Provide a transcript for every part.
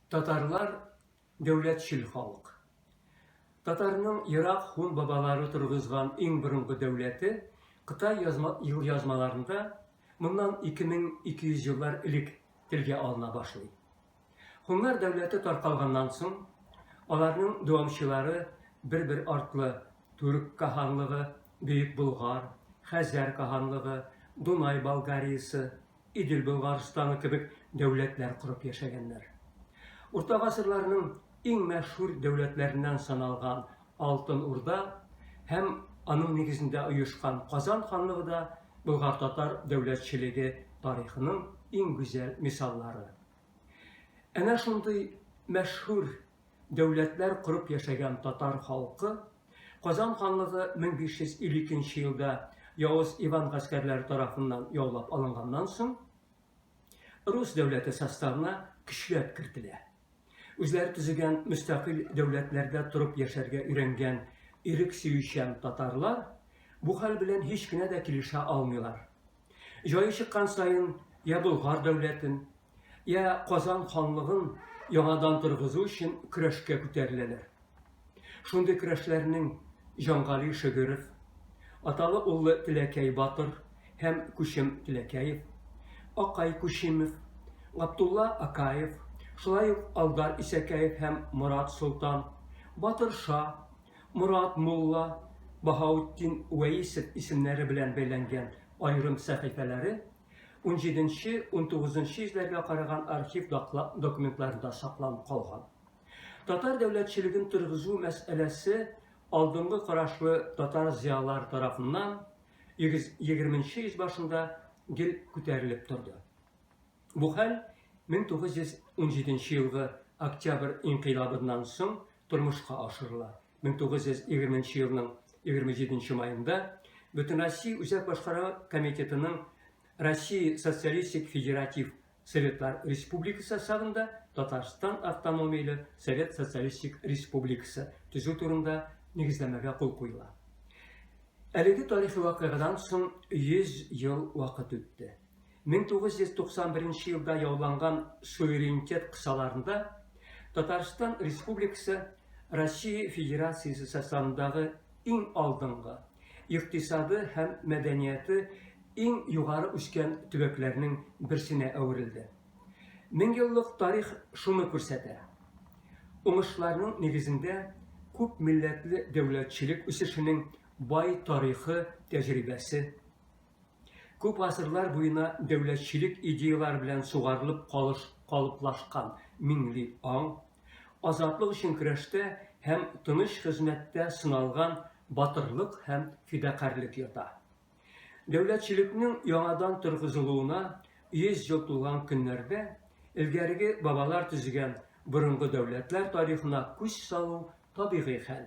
Татарлар дәүләтчел халык. Татарның ерак һун бабалары торгызган иң борынгы дәүләте Кытай язма, елъязмаларында моннан 2200 еллар элек телгә алына башлый. Хуннар дәүләте таркалганнан соң, аларның дәвамчылары бер-бер артлы Түрк каһанлыгы, Бөек Болгар, Хәзәр каһанлыгы, Дунай Болгариясе, Идел Болгарстаны кебек дәүләтләр корып яшәгәннәр. Урта гасырларның иң мәшһүр дәүләтләреннән саналган Алтын Урда һәм аның нигезендә оешкан Казан ханлыгы да болгар-татар дәүләтчелеге тарихының иң гүзәл мисаллары. Әнә шундый мәшһүр дәүләтләр корып яшәгән татар халкы, Казан ханлыгы 1552 елда явыз Иван гаскәрләре тарафыннан яулап алынганнан соң, рус дәүләте составына көчләп кертелә. Үзләре төзегән мөстәкыйль дәүләтләрдә торып яшәргә өйрәнгән ирек сөючән татарлар бу хәл белән һич кенә дә килешә алмыйлар. Җае чыккан саен, я Болгар дәүләтен, йә Казан ханлыгын яңадан торгызу өчен көрәшкә күтәреләләр. Шундый көрәшләрнең Җангали Шөгеров, аталы-уллы Теләкәй батыр һәм Күчем Теләкәев, Акай Күчимов, Габдулла Акаев, шулай ук Алдар Исәкәев һәм Морат Солтан, Батыр Ша, Морат мулла, Баһаутдин Вәисов исемнәре белән бәйләнгән аерым сәхифәләре унҗиденче-унтугызынчы йөзләргә караган архив документларында сакланып калган. Татар дәүләтчелеген торгызу мәсьәләсе алдынгы карашлы татар зыялылары тарафыннан егерменче йөз башында гел күтәрелеп торды. Бу хәл 1917 елгы Октябрь инкыйлабыннан соң тормышка ашырыла. 1920 нче елның 27 нче маенда Бөтенроссия Үзәк башкару комитетының Россия Социалистик Федератив Советлар Республикасы сагында Татарстан автономияле Совет Социалистик Республикасы төзү турында нигезләмәгә кул куела. Әлеге тарихи вакыйгадан соң 100 ел вакыт үтте. 1991 нче елда яуланган суверенитет кысаларында Татарстан Республикасы Россия Федерациясе составындагы иң алдынгы, икътисады һәм мәдәнияты иң югары үскән төбәкләрнең берсенә әверелде. Меңьеллык тарих шуны күрсәтә. Уңышларның нигезендә күп милләтле дәүләтчелек үсешенең бай тарихы тәҗрибәсе Күп гасырлар буена дәүләтчелек идеяләре белән сугарылып калыш, калыплашкан миңли аң, азатлык өчен көрәштә һәм тыныч хезмәттә сыналган батырлык һәм фидакарьлек ята. Дәүләтчелекнең яңадан торгызылуына 100 ел тулган көннәрдә элгәреге бабалар төзегән борынгы дәүләтләр тарихына күз салу табигый хәл.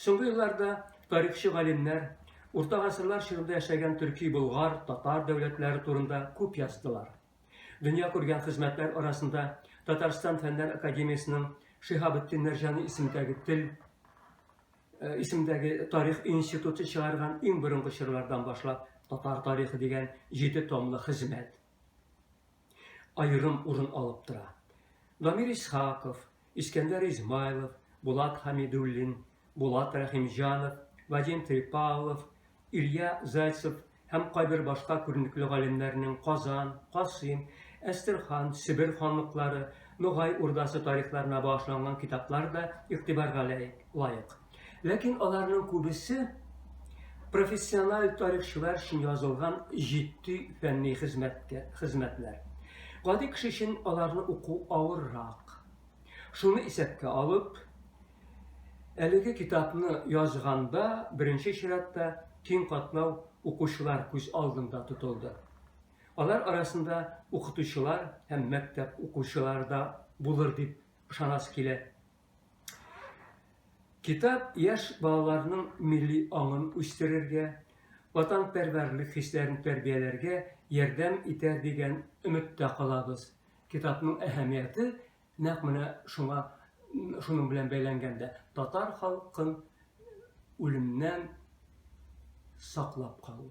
Соңгы елларда тарихчы галимнәр урта гасырлар чорында яшәгән төрки, болгар, татар дәүләтләре турында күп яздылар. Дөнья күргән хезмәтләр арасында Татарстан фәннәр академиясенең Шиһабетдин Мәрҗани исемдәге тел э, исемдәге тарих институты чыгарган иң борынгы чорлардан башлап татар тарихы дигән җиде томлы хезмәт. аерым урын алып тора. Дамир Исхаков, Искәндәр Измайлов, Булат Хәмидуллин, Булат Рәхимҗанов, Вадим Трепалов, Илья Зайцев һәм кайбер башка күренекле галимнәрнең Казан, Касыйм, Әстерхан, Себер ханлыклары, Ногай Урдасы тарихларына багышланган китаплар да игътибарга лаек. Ләкин аларның күбесе профессиональ тарихчылар өчен язылган җитди фәнни хезмәткә хезмәтләр. Гади кеше өчен аларны уку авыррак. Шуны исәпкә алып, әлеге китапны язганда беренче чиратта киң катлау укучылар күз алдында тотылды. Алар арасында укытучылар һәм мәктәп укучылары да булыр дип ышанасы килә. Китап яшь балаларның милли аңын үстерергә, ватанпәрвәрлек хисләрен тәрбияләргә ярдәм итәр дигән өметтә калабыз. Китапның әһәмияте нәкъ менә шуңа шуның белән бәйләнгән дә. Татар халкын үлемнән саклап калу.